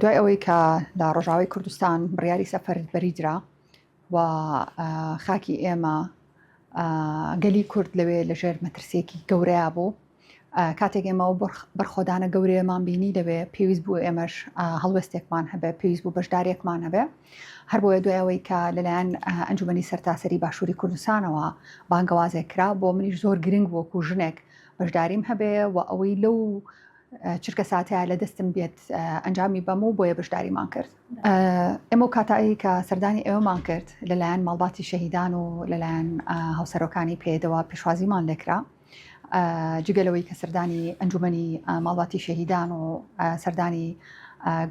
دوای ئەوەی کە لە ڕۆژاوای کوردستان بڕیاری سەفەربەری درا و خاکی ئێمە گەلی کورد لەوێ لەژێر مەترسیەکی گەورەیا بوو کاتێک ئێمەەوە بەرخۆدانە گەورەیەمان بینی دەوێ پێویست بوو ئێمەش هەڵوێستێکمان هەبێ پێویست بوو بەشدارێکمان هەبێ هەر بۆیە دوایەوەی کە لەلایەن ئەنجومی سەرتاسەری باشووری کوردستانەوە بانگەوازێک کرا بۆ منیش زۆر گرنگ وەکو ژنێک بەشداریم هەبێ و ئەوەی لەو چرکە ساتەیە لە دەستم بێت ئەنجامی بەم و بۆیە بەشداریمان کرد ئێمە و کاتایی کە سەردانی ئێوەمان کرد لەلایەن ماڵباتی شەهیدان و لەلایەن هاوسەرۆکانی پێدەوە پێشوازیمان لەکرا جگەلەوەی کە سەردانی ئەنجومنی ماڵباتی شەهیدان و سەردانی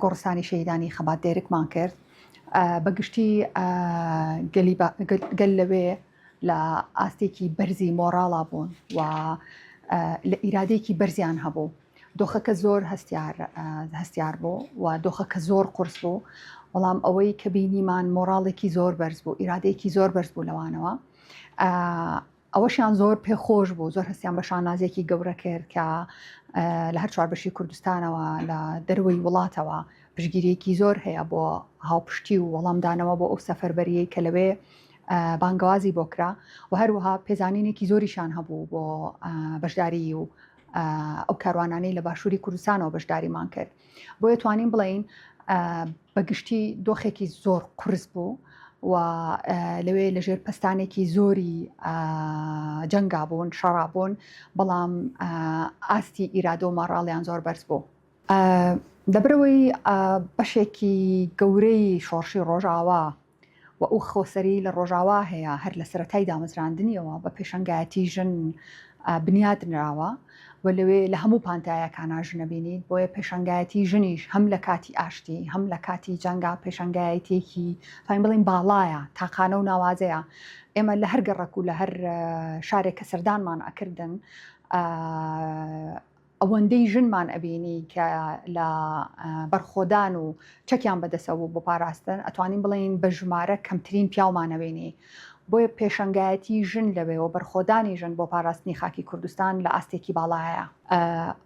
گۆڕستانی شەهیدانی خەبات دێرکمان کرد بەگشتی گەل لەوێ لە ئاستێکی بەرزی مۆڕاڵا بوون و لە ئیرادەیەکی بەرزیان هەبوو دۆخەکە زۆر هەستیار هەستیار بوو و دۆخەکە زۆر قرس بوو بەڵام ئەوەی کە بینیمان مۆراڵێکی زۆر بەرز بوو ئیرادەیەکی زۆر بەرز بوو لەوانەوە ئەوەشیان زۆر پێخۆش بوو زۆر هەستیان بە شانازێکی گەورە کرد کە لە هەر چوار بەشی کوردستانەوە لە دەروی وڵاتەوە پشگیریەکی زۆر هەیە بۆ هاوپشتی و وەڵامدانەوە بۆ ئەو سەفەربەریەی کە لەوێ بانگەوازی بۆ کرا و هەروەها پێزانینێکی زۆریشان هەبوو بۆ بەشداریی و ئەو کاروانانەی لە باشووری کوردستانەوە بەشداریمان کرد بۆیە توانین بڵین بەگشتی دۆخێکی زۆر قرس بوو و لەوێ لەژێر پستانێکی زۆری جەنگا بوون شەڕابوون بەڵام ئاستی ئیرادۆ ماڕاڵیان زۆر بەرز بوو. دەبرەوەی بەشێکی گەورەی شۆڕشی ڕۆژاوا و ئەو خۆسەری لە ڕۆژاوا هەیە هەر لە سەرەتای دامەزراندنیەوە بە پێشەنگایەتی ژن بنیات نراوە و لەوێ لە هەموو پانتایەکانا ژن ئەبینیت بۆیە پێشەنگایەتی ژنیش هەم لە کاتی ئاشتی هەم لە کاتی جەنگا پێشەنگایەتیەکی توانین بڵێین باڵایە تاقانە و ناوازەیە ئێمە لە هەر گەڕەک و لە هەر شارێک کە سەردانمان ئەکردن ئەوەندەی ژنمان ئەبینی کە لە بەرخۆدان و چەکیان بەدەسە و بۆ پاراستن ئەتوانین بڵێین بە ژمارە کەمترین پیاومانەبینی بۆیە پێشەنگایەتی ژن لەوێ و بەرخۆدانی ژن بۆ پاراستنی خاکی کوردستان لە ئاستێکی باڵایە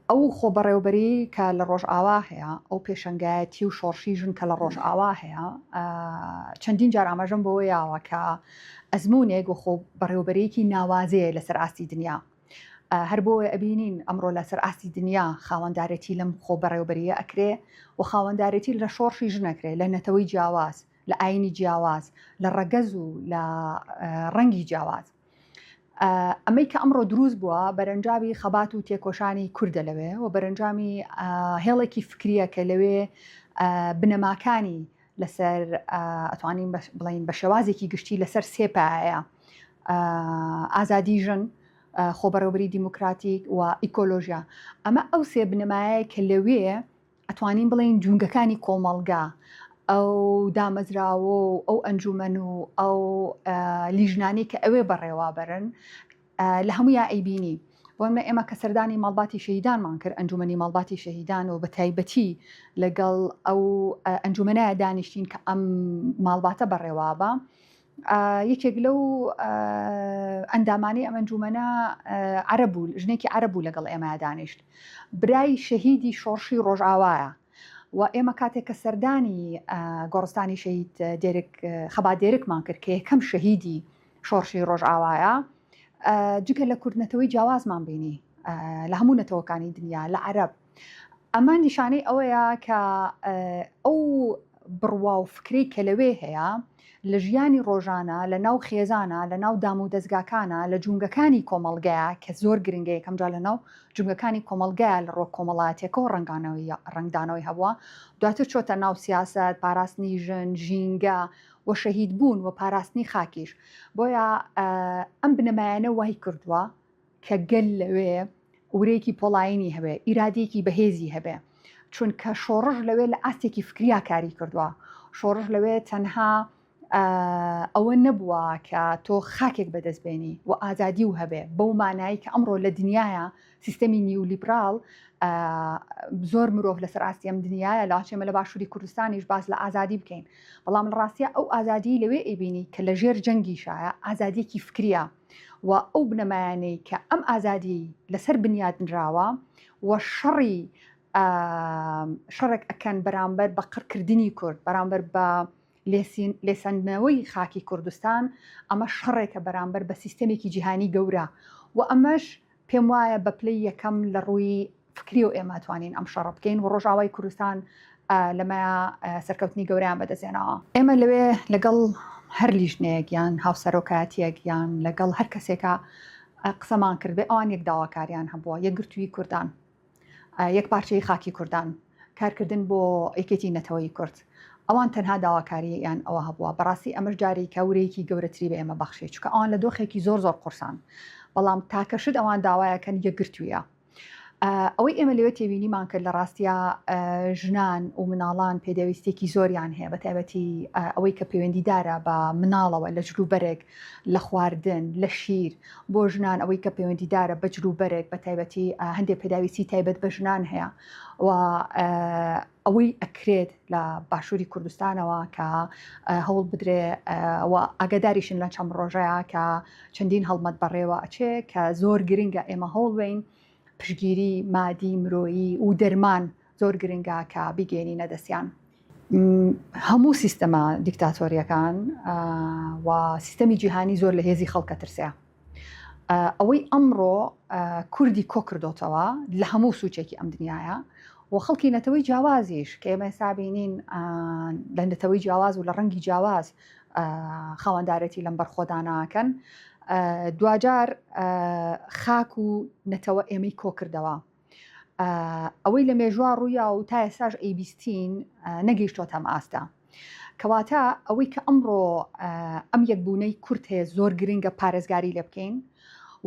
ئەو خۆ بەڕێوبەری کە لە ڕۆژئاوا هەیە ئەو پێشەنگایەتی و شۆڕشی ژن کە لە ڕۆژئاوا هەیە چەندین جار ئاماژەم بەوە یاوە کە ئەزمونێک و خۆ بەڕێوبەرێکی ناوازەیە لەسەر ئاستی دنیا هەر بۆیە ئەبینین ئەمڕۆ لە سەر ئاستی دنیا خاوەندارێتی لەم خۆبەڕێوبەرییە ئەکرێ و خاوەندارێتی لە شۆڕشی ژن ئەکرێ لە نەتەوەی جیاواز، لە ئاینی جیاواز، لە ڕەگەز و لە ڕەنگی جیاواز. ئەمەی کە ئەمڕۆ دروست بووە بەرەنجاوی خەبات و تێکۆشانی کوردە لەوێ و بەرەنجامی هێڵێکی فکریە کە لەوێ بنەماکانی لەسەر ئەتوانین بڵین بە شێوازێکی گشتی لەسەر سێپایە ئازادی ژن، خۆبەڕێوبەری دیموکراتیک و ئیکۆلۆژیا ئەمە ئەو سێ بنەمایە کە لەوێ ئەتوانین بڵێن جونگەکانی کۆمەڵگا ئەو دامەزراوە و ئەو ئەنجومەن و ئەو لیژنانی کە ئەوێ بەڕێوابەرن لە هەموو یا ئەیبینی بۆمە ئێمە کە سەردانی ماڵباتی شەهیدانمان کرد ئەنجومی ماڵباتی شەهیدان و بە تایبەتی لەگەڵ ئەو ئەنجومەنایە دانیشتین کە ئەم ماڵباتە بەڕێوابە یەکێک لەو ئەندامانی ئەم ئەنجومەنە عەرەب بوو ژنێکی عەرەب بوو لەگەڵ ئێمەیا دانیشت برای شەهیدی شۆڕشی ڕۆژاوایە و ئێمە کاتێک کە سەردانی گۆڕستانی شەهید دێرک خەبا دێرکمان کرد کە یەکەم شەهیدی شۆڕشی ڕۆژاوایە جگە لە کوردنەتەوەی جیاوازمان بینی لە هەموو نەتەوەکانی دنیا لە عەرب ئەمە نیشانەی ئەوەیە کە ئەو بڕوا و فکرەی کە لەوێ هەیە لە ژیانی ڕۆژانە لە ناو خێزانە لە ناو دام و دەستگاکانە لە جونگەکانی کۆمەڵگەیە کە زۆر گرنگە یەکەم جار لە ناو جونگەکانی کۆمەڵگەیە لە ڕۆک کۆمەڵاتێکەوە ڕنگانەوەی ڕنگدانەوەی هەبووە دواتر چۆتە ناو سیاست پاراستنی ژن ژینگە و شەهید بوون و پاراستنی خاکیش بۆیە ئەم بنەمایانە وای کردووە کە گەل لەوێ ورەیەکی پۆڵایینی هەبێ، ئیرادەیەکی بەهێزی هەبێ، چونکە شۆڕش لەوێ لە ئاستێکی فکریا کاری کردووە، شۆڕش لەوێ تەنها ئەوە نەبووە کە تۆ خاکێک بەدەستبێنی و ئازادی و هەبێ بەو مانایی کە ئەمڕۆ لە دنیاە سیستەمی نیولیبرال زۆر مرۆڤ لەسەر ئاستی ئەم دنیاە لاچێمە لە باشووری کوردستانیش باز لە ئازادی بکەین بەڵام ڕاستە ئەو ئازادی لەوێ ئەبینی کە لە ژێر جەنگی شایە ئازادیەکی فکریە و ئەو بنەمایانەی کە ئەم ئازادیەی لەسەر بنیات نراوە و شەڕی شەڕێک ئەکەن بەرامبەر بە قڕکردنی کورد بەرامبەر بە لێسەندنەوەی خاکی کوردستان ئەمە شەڕێکە بەرامبەر بە سیستەمێکی جیهانی گەورە و ئەمەش پێم وایە بە پلەی یەکەم لە ڕووی فکریەوە ئێمە توانین ئەم شەڕە بکەین و ڕۆژاوای کوردستان لەمەیا سەرکەوتنی گەوریان بەدەستێنەوە. ئێمە لەوێ لەگەڵ هەر لیژنەیەک یان هاوسەرۆکایەتیەک یان لەگەڵ هەر کەسێکا قسەمان کردبێ ئەوان یەک داواکاریان هەبووە، یەکگرتووی کوردان. یەک پارچەیی خاکی کوردان. کارکردن بۆ یەکێتی نەتەوەیی کورد. ئەوان تەنها داواکاری یان ئەوە هەبووە. بەڕاستی ئەمەش جاریکە ورەیەکی گەورەتری بە ئێمە بەخشی. چونکە ئەوان لە دۆخێکی زۆر زۆر قورسان. بەڵام تاکە شت ئەوان داوایەکەن یەکگرتوویە. ئەوەی ئێمە لەوێ تێبینیمان کرد لە ڕاستیا ژنان ومناڵان پێداویستیەکی زۆریان هەیە بە تایبەتی ئەوەی کە پەیوەندیدارە بە مناڵەوە لە جلوبەرگ لە خواردن لە شیر بۆ ژنان ئەوەی کە پەیوەندیدارە بە جلو بەرێک بە تایبەتی هەندێک پێداویستی تایبەت بە ژنان هەیە و ئەوەی ئەکرێت لە باشووری کوردستانەوە کە هەوڵ بدرێ و ئاگداریشن لە چەم ڕۆژەیە کە چەندین هەڵمەت بەڕێوە ئەچێ کە زۆر گرنگە ئێمە هەوڵ بین پشتگیری مادی مرۆیی و دەرمان زۆر گرنگە کە بیگەێنینە دەستیان. هەموو سیستەمە دیکتاتۆریەکان و سیستەمی جیهانی زۆر لە هێزی خەڵکە ترسەیە ئەوەی ئەمڕۆ کوردی کۆکردۆتەوە لە هەموو سوچێکی ئەم دنیاە و خەڵکی نەتەوەی جیاوازیش کە ئێمە سابینین لە نەتەوەی جیاواز و لە ڕەنگی جیاواز خاوەندارێتی لەم بەرخۆدانە ئەکەن دواجار خاک و نەتەوە ئێمەی کۆکردەوە ئەوەی لە مێژوا ڕوویا و تا ئێساش ئەیبیستین نەگەیشتۆتەم ئاستە کەواتە ئەوەی کە ئەمڕۆ ئەم یەکبوونەی کورت هەیە زۆر گرنگە پارێزگاری لێ بکەین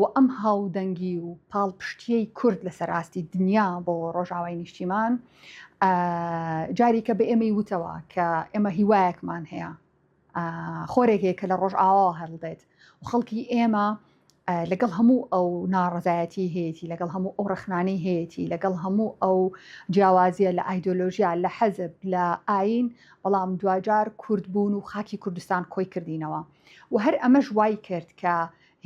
و ئەم هاودەنگی و پاڵپشتیەی کورد لەسەر ئاستی دنیا بۆ ڕۆژاوای نیشتیمان جاریکە بە ئێمەی وتەوە کە ئێمە هیوایەکمان هەیە خۆرێک هەیە کە لە ڕۆژئاواوە هەڵدێت و خەڵکی ئێمە لەگەڵ هەموو ئەو ناڕزایەتی هەیەی لەگەڵ هەموو ئەو ڕخنانی هەیەی لەگەڵ هەموو ئەو جیاوازیە لە ئایدۆلۆژیا لە حەزب لە ئاین بەڵام دواجار کورد بوون و خاکی کوردستان کۆی کردینەوە و هەر ئەمەش وای کرد کە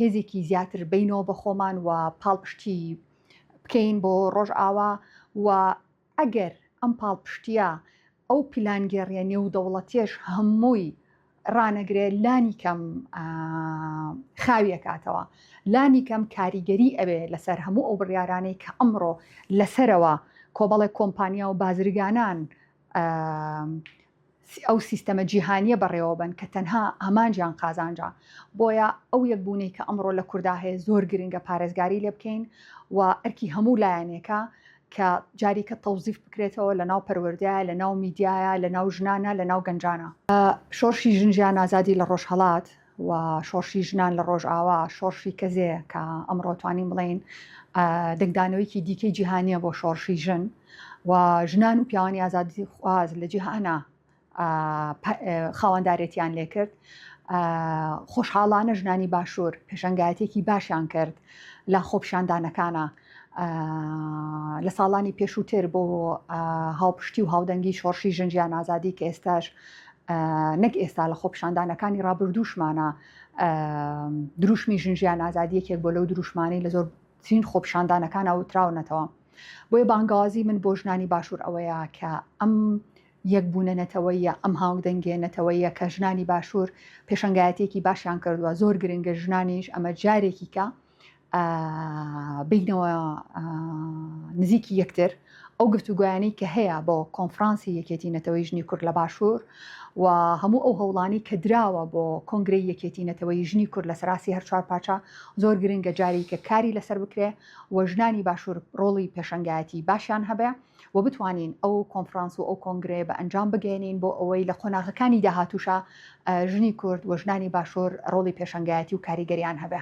هێزێکی زیاتر بینەوە بە خۆمان و پاڵپشتی بکەین بۆ ڕۆژئاوا و ئەگەر ئەم پاڵپشتییە، ئەو پیلانگێڕییە نێودەوڵەتییەش هەمووی ڕانەگرێ، لانیکەم خاوی ئەکاتەوە، لانیکەم کاریگەری ئەبێ لەسەر هەموو ئەو بڕیارانەی کە ئەمڕۆ لەسەرەوە کۆمەڵێک کۆمپانیا و بازرگانان ئەو سیستەمە جیهانییە بەڕێوەبەن کە تەنها ئامانجیان قازانجە، بۆیە ئەو یەکبوونەی کە ئەمڕۆ لە کوردا هەیە زۆر گرنگە پارێزگاری لێ بکەین و ئەرکی هەموو لایەنێکە کە جاریکە تەوزیف بکرێتەوە لەناو پەروەردەیە، لەناو میدیایە، لەناو ژنانە، لەناو گەنجانە. شۆڕشی ژن ژیان ئازادی لە ڕۆژهەڵات و شۆڕشی ژنان لە ڕۆژئاوا، شۆڕشی کەزێ کە ئەمڕۆ توانین بڵێین دەنگدانەوەیەکی دیکەی جیهانیە بۆ شۆڕشی ژن و ژنان و پیاوانی ئازادی خواز لە جیهانە خاواندارێتیان لێکرد خۆشحاڵانە ژنانی باشوور پێشنگایەتێکی باشیان کرد لە خۆپشاندانەکانە لە ساڵانی پێشووتر بۆ هاوپشتی و هاودەنگی شۆڕشی ژن ژیان ئازادی کە ئێستاش نەک ئێستا لە خۆپشاندانەکانی ڕابردووشمانە دروشمی ژن ژیان ئازادیەکێک بۆ لەو دروشمانی لە زۆر چین خۆپشاندانەکان ئەوتراونەتەوە بۆیە بانگازی من بۆ ژنانی باشوور ئەوەیە کە ئەم یەک بوونە نەتەوەیە ئەم هاوک دەنگێ نەتەوەیە کە ژنانی باشوور پێشنگایەتێکی باشیان کردووە زۆر گرنگە ژنانیش ئەمە جارێکیکە بینەوە نزیکی یەکتر ئەو گفتوگویانی کە هەیە بۆ کۆنفرانسی یەکێتی نەتەوەی ژنی کورد لە باشوور و هەموو ئەو هەوڵانی کە دراوە بۆ کۆنگری یەکێتی نەتەوەی ژنی کورد لە سەراسی هەر چوار پاچە زۆر گرنگە جاری کە کاری لەسەر بکرێ و ژنانی باشوور ڕۆڵی پێشنگایەتی باشیان هەبێ و بتوانین ئەو کۆنفرانس و ئەو کۆنگرێ بە ئەنجام بگەێنین بۆ ئەوەی لە قۆناغەکانی داهاتوشە ژنی کورد و ژنانی باشوور ڕۆڵی پێشنگایەتی و کاریگەریان هەبێ.